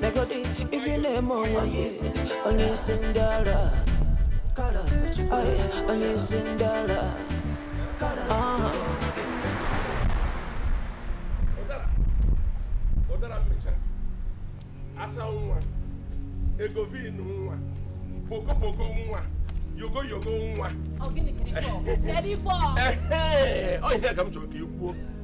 negodi ife ị na-eme onwe gị onye isi ndị ara onye isi ndị ara ụdara mịcha asa nwa egovin nwa pokopoko nwa yogo yogo nwa ọ ihe ka m chọrọ ka ị kwuo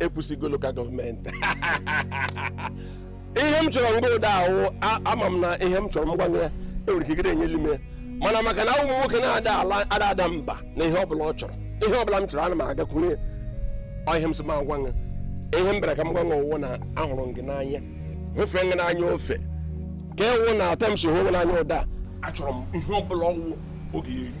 ekwusigo local gọọmenti ihe m chọrọ nga ụda a wụ ama m na ihe m chọrọ m gwa ya enwere ike gịrị enyeli m ya mana maka na awụ m nwoke na-ada ada mba na ihe ọbụla ọ chọrọ ihe ọbụla m chọrọ ana m agakwuru ya ọ ihe m sị m agwa ya ihe m bịara ka m gwa ya wụ na ahụrụ m gị n'anya hụfee gị n'anya ofe ka ewu na atọ m si hụ gị n'anya ụda a. achọrọ m ihe ọbụla ọ wụ ọ ga-eri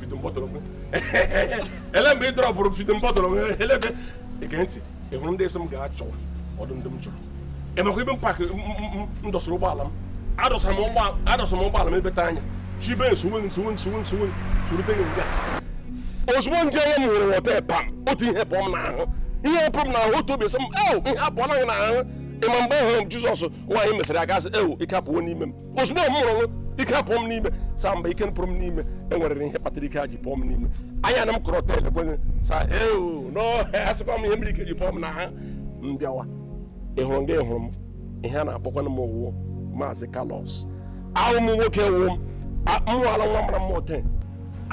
ele mgbe ị dọrọpụrụ m feeding bottle m elebe ege ntị ị hụrụ ndị esi m ga-achọwa ọdụ ndị m chọrọ ịmakwa ebe m park m dọsara ụgbọala m adọsara m ụgbọala m ebeta anya chibe m sowe m sowe m sowe m sowe sorute gị nga ozugbo nje onye m hụrụ wọta pam otu ihe pụọ m n'ahụ ihe pụrụ m n'ahụ otu obi sị m ew ihe apụọla gị n'ahụ ịma mgbe ahụ jizọs nwaanyị mesịrị aka sị ew ike apụwo n'ime m ozugbo m hụrụ ike pụọ m n'ime saa mba ike pụrụ m n'ime enwere ihe kpatara ike a ji pụọ m n'ime anya na m kọrọ tel ekwenye sa ewu n'asịkwa m ihe mere ike ji pụọ m n'ahụ m bịawa ị hụrụ nga ị hụrụ m ihe a na-akpọkwana m ọ wụ maazị Carlos awụ m nwoke wụ m nwaala nwa mara mma otu a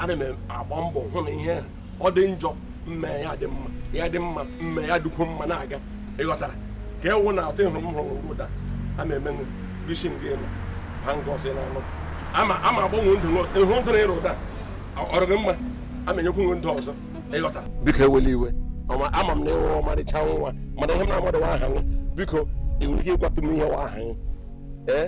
ana m agba mbọ hụ na ihe ọ dị njọ m mee ya dị mma ya dị mma m mee ya dịkwu mma na-aga ịghọtara ka ewu na atụ ịhụrụ m hụrụ ụda a na-eme isi gị nọ ha nga ọsọ na-anụ ama ama agbanwe ndụ ịhụ ndụ na ịrụ ụda ọrụ gị mma ama enyekwu nwe ndụ ọzọ ịghọtara biko ewele iwe ama m na ịwụ ọmarịcha nwa mana ihe m na-amadụ wụ aha nwa biko ị nwere ike ịgwatụ m ihe wụ aha nwa ee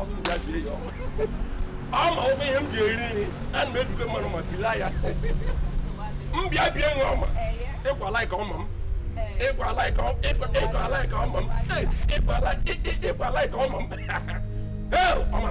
ọ sị m bịa bie ya ọma ọma ọ wụ ihe m ji eri nri a na m ebite mmanụ ma bila ya m bịa bie nwa ọma ịkwa like ọma m ịkwa like ọ- ịkwa- ịkwa like ọma m Ee, ịkwa like ị- ị- ịkwa like ọma m Ee, ọma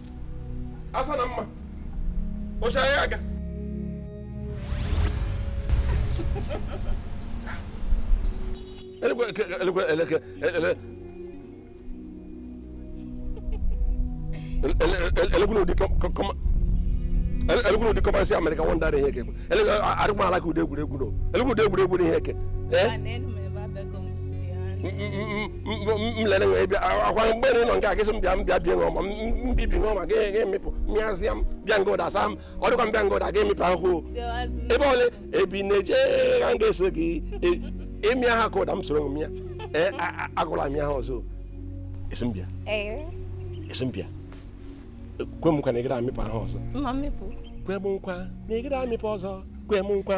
asa na mma oche anyị aga elekwe elekwe elekwe elekwe ụdị kọma elekwe ụdị kọma si America wonder na ihe eke elekwe arịkwa ala ka ụdị egwuregwu na elekwe ụdị egwuregwu na ihe eke mlere nwee bịa akwa mgbe nọ nke akịsị m bịa m bịa bie ṅụọma mbibi ṅụọma ga emepụ mịazịa m bịa nga ụda saa m ọ dịkwa m bịa nga ụda ga-emepe akwụkwọ ebe ole ebe ị na-eje m ga-eso gị ịmịa ha ka ụda m soro m ya ee agụla m ya ha ọzọ esi m bịa esi m bịa kwe m nkwa na ị gara amịpụ ahụ ọzọ kwe m nkwa na ị gara amịpụ ọzọ kwe m nkwa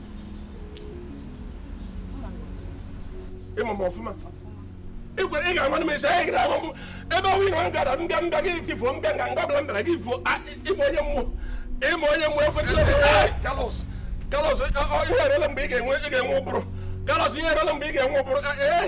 ị ma m ọfụma ị gwara ị ga-agwa m esi anyị gara agwa m ebe ọnwụ ịnọ gara m bịa m bịa gị ifo m bịa nga nga ọbụla m bịara gị ifo ị ma onye m wụ ị ma onye m wụ ekwetara kalọs kalọs ihe erela mgbe ị ga-enwe ị ga-enwe ụbụrụ kalọs ihe erela mgbe ị ga-enwe ụbụrụ ee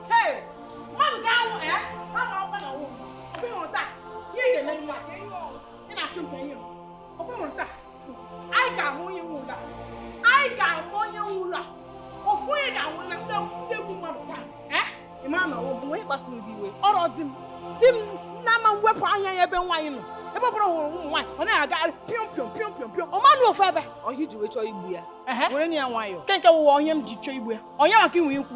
chọọ igbu ya were ya nwayọọ nke nke wụwa onye m ji chọọ igbu ya onye maka inwe ikwu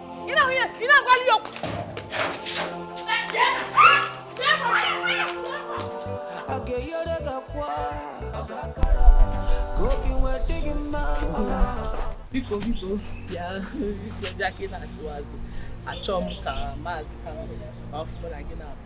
biko biko bịa bịa ka ị na-achịwazi achọọ m ka maazị Carlos ka ọ fụrụ na gị na-abụ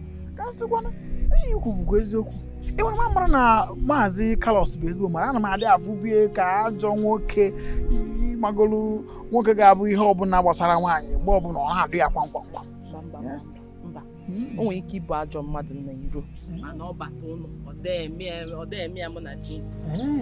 ka sịkwana ihe i kwu bụkwa eziokwu enwere m amara na maazị Carlos bụ ezigbo mmadụ ana m adị afụbu ya ka ajọ nwoke ị magolu nwoke ga-abụ ihe ọbụla gbasara nwaanyị mgbe ọbụla ọ na-adụ ya kwamkwamkwam hmm. o nwere ike ịbụ ajọ mmadụ n'iro hmm. mana ọ bata ụlọ ọ dee eme ya mụ na chi hmm.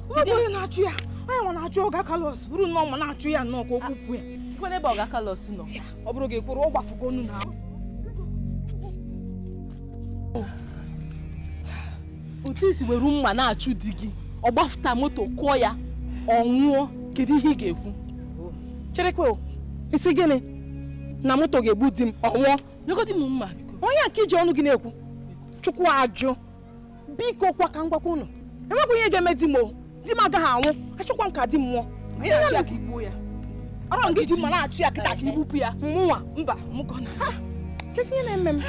Onye onye na-achụ ya onye nwa na-achụ ọga kalọs buru mma na-achụ ya nnọọ ka o gbupụ ya Kwene ebe ọga kalọs nọ. ọ bụrụ gị kwụrụ ọ gbafugo onu na ahụ Otu i si were mma na-achụ di gị, ọ gbafụta moto kụọ ya, ọ nwụọ, kedu ihe ị ga-ekwu? cherekwa o ị sị gịnị na moto ga-egbu di m ọ nwụọ Nyegodi m mma biko. onye a ka i ji ọnụ gị na-ekwu chukwu ajụ biko kwa ka m gwakwa ụnụ enwekwa ihe ga-eme di m o di m agaghị anwụ achọkwa m ka di m nwụọ Ị na-achụ ya ka i gbuo ya ọ bụrọ gị ji mma na-achụ ya kịta ka i gbupụ ya mụnwa mba mụkọ na kezi ihe na-eme m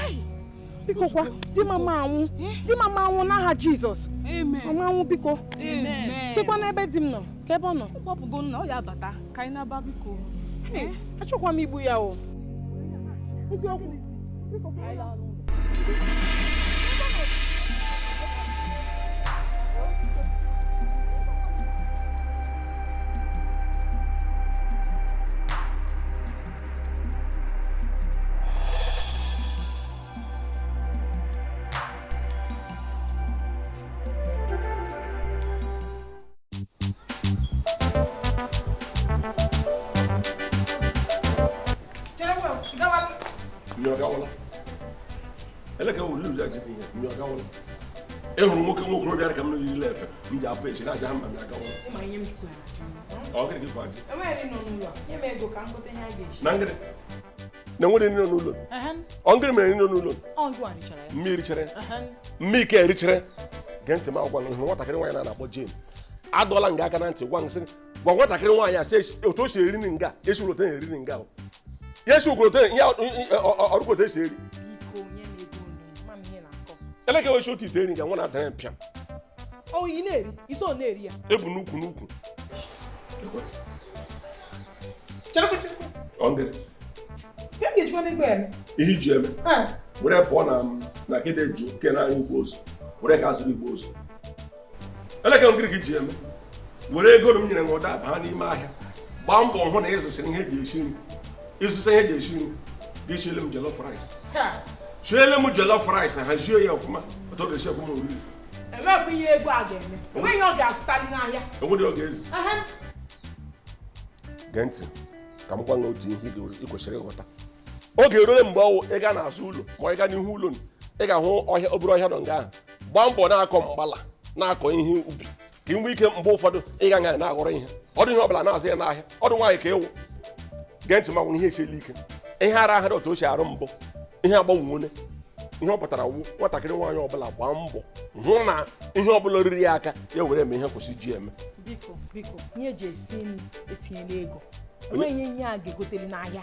biko kwa di m ama anwụ di m ama anwụ n'aha jizọs Amen. ọ ma anwụ biko Amen. dịkwa n'ebe di m nọ ka ebe ọ nọ kpọpụgo nna oya bata ka anyị naba biko achọkwa m igbu ya o ịhụrụ nwoke nwa okorobịa ka m na yiri efe m ji apụ echi na-aja ha mba m agawa na nwere nri n'ụlọ ọ ngịrị mere nri n'ụlọ mmiri chere mmike erichere gee ntị m gwa gị nwatakịrị nwaanyị a a na-akpọ Jane adọla m ya aka na ntị gwa nsị gwa nwatakịrị nwaanyị a sị otu o si eri nri nga esi ụlọta eri nri nga ya esi ụkọlọta ya ọrụkọta esi eri elekere esi otu ite eri nga nwa na-adara ya mpịa ebu n'ukwu n'ukwu Chere chere. Onge. Ka m ga-ejikwanụ ego eme. Ihe iji eme. Were pụọ na Nekede ju ke na anyị igbe ozu. Were ga zụrụ igbe ozu. Elekere ngịrị ka i ji eme. Were ego m nyere ngwọda baa n'ime ahịa. Gbaa mbọ hụ na ịzụsịrị ihe eji esi nri. Ịzụsa ihe eji esi nri. Gị siele m jollof rice. Siele m jollof rice hazie ya ọfụma. Otu ọ ga-esi ekwe m oriri. Enweghị ihe ego a ga-eme. Enweghị ọ ga-azụtali n'ahịa. Enweghị ọ ga-ezi. gee ntị ka m gwa gị otu ihe ị kwesịrị ịghọta oge erule mgbe ọ wụ ị ga n'azụ ụlọ ma ị ga n'ihu ụlọ ị ga-ahụ ọhịa obere ọhịa nọ nga ahụ gbaa mbọ na-akọ mgbala na-akọ ihe ubi ka ị nwee ike mgbe ụfọdụ ị ga nga na-aghọrọ ihe ọdụ ihe ọbụla na-azụ ya n'ahịa ọdụ nwaanyị ka ị wụ gee ntị m gwa gị ihe esiela ike ihe ara ahara otu o si arụ mbụ ihe agbanwewone ihe ọ pụtara wụ nwatakịrị nwaanyị ọbụla gbaa mbọ hụ na ihe ọbụla ruru ya aka ya were eme ihe kwesị iji eme biko biko ihe eji esi nri etinyela ego enweghị ihe a ga-egotere n'ahịa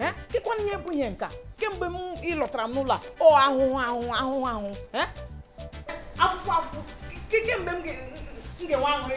Eh? kedụkwanụ ihe bụ ihe nka kemgbe ị lụtara m n'ụlọ a ọ ahụhụ ahụhụ ahụhụ ahụhụ Eh? afụfụ afụfụ ke- kee mgbe m ga- m ga-enwe aṅụrị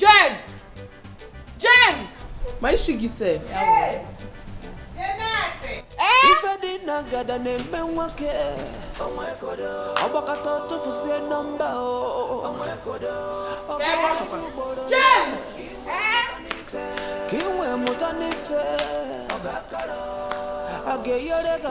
Jen! Jen! Ma isi gị sef. ife dị na ngada na-eme nwoke ọgbakọta tụfusie nọmba ka ị wee mụtanụ ife ga-enyere gị aka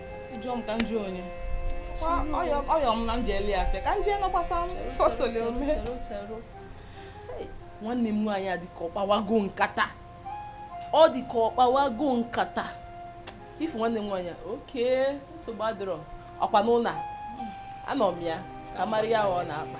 jụọ m ka m jụọ onye ọyọ m na m jeeli ya afịa ka m jee nọkwasa fọsọlị ome nwanne m nwaanyị a dịka ọ kpawago nkata ọ dịka ọ kpawago nkata ị fụ nwanne m nwaanyị oke nsogbu adịrọ ọkwa n'ụlọ anọ m ya ka m mara ya ọ na-akpa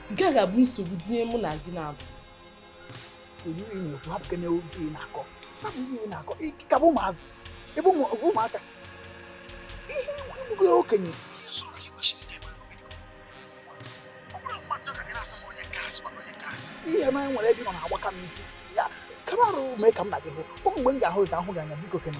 nke a ga-abụ nsogbu dị n'ihe mụ na gị na-abụ ị ka bụ ụmụazị ebe ụmụaka ihe ị bụgoro okenye ihe na e nwere ebe ọ na-agbaka m isi ya kabarụ mee ka m na gị hụ mgbe m ga-ahụ gị ka ahụ gị anya biko kene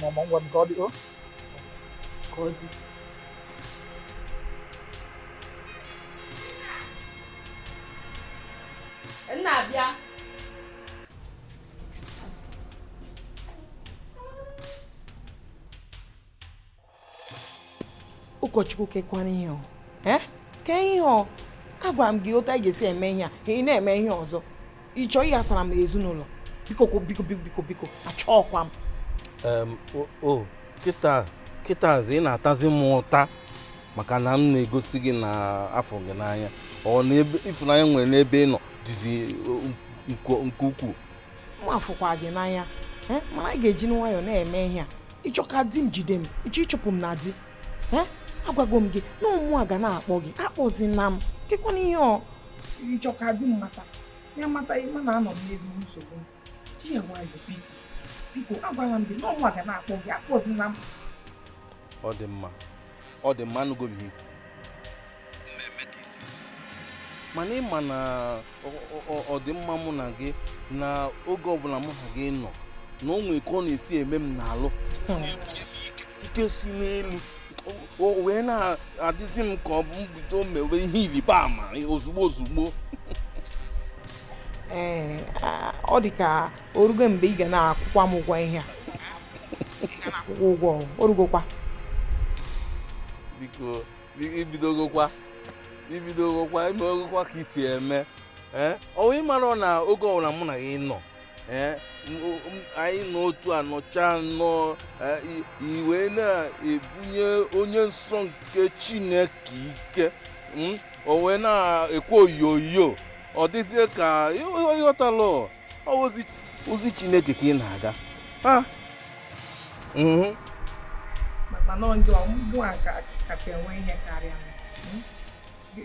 Mama, ngwanụ ka ọ dị o. Ka ọ dị. M na-abịa. ụkọchukwu kekwara ihe ọ eh? ke ihe ọ agwara m gị otu anyị ga-esi eme ihe a ị na-eme ihe ọzọ ị chọ ịghasara m ezinụlọ biko biko biko biko achọọkwa m o kịta kịtazi ị na-atazi m ụta maka na m na-egosi gị na afụ gị n'anya ọ na ịfụnanya m nwere n'ebe ị nọ dịzi nke ukwuu mụ afụkwa gị n'anya eh? mana anyị ga-eji nwayọọ na-eme ihe a ị chọ ka di m jide m ị chọ ịchụpụ m na di agwago m gị na ọ mụwa ga na-akpọ gị akpọzina m kekwanụ ihe ọ ị chọ ka di m mata ya mata ị ma na anọ m n'ezigbo nsogbu ji ya nwayọ biko biko agwara m gị na ọ mụwa ga na-akpọ gị akpọzina m ọ dị mma ọ dị mma anụgo m mana ị ma na ọdịmma mụ na gị na oge ọbụla mụ na gị nọ na o nwere ka ọ na-esi eme m n'alụ ike si n'elu o wee na-adịzi m ka ọ bụ m bido mewe ihe ịrịba ama ozugbo ozugbo ee ọ dị ka o rugo mgbe ị ga na-akwụkwa m ụgwọ ihe a akwụkwọ ụgwọ o rugokwa biko i bidogokwa i bidogokwa i megokwa ka i si eme eh? ọ wụ ị mara na oge ọbụla mụ na gị nọ eh? anyị nọ otu a nọcha nọ eh, i wee na-ebunye onye nsọ nke chineke ike hmm? o wee na-ekwe oyoyo ọ dịzie ka ị ghọtalụ ozi chineke ka ị na-aga mana gịnwa kacha enwe ihe karịa m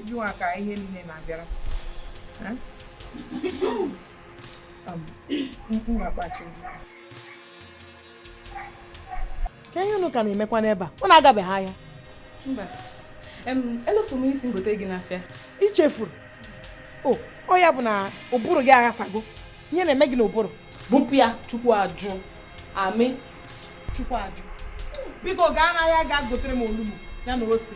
gịnwa ka ihe niile na-abịara n'akpa kee ihe unu ka na-emekwa n'ebe a unu agabeghị ahịa mba elofu m ihe ị sị m gote gị n'afịa i chefuru ọ ya bụ na ụbụrụ gị aghasago ihe na-eme gị n'ụbụrụ bupụ ya chukwu ajụ amen chukwu ajụ biko gaa n'ahịa gaa gotere m olugbu ya na ose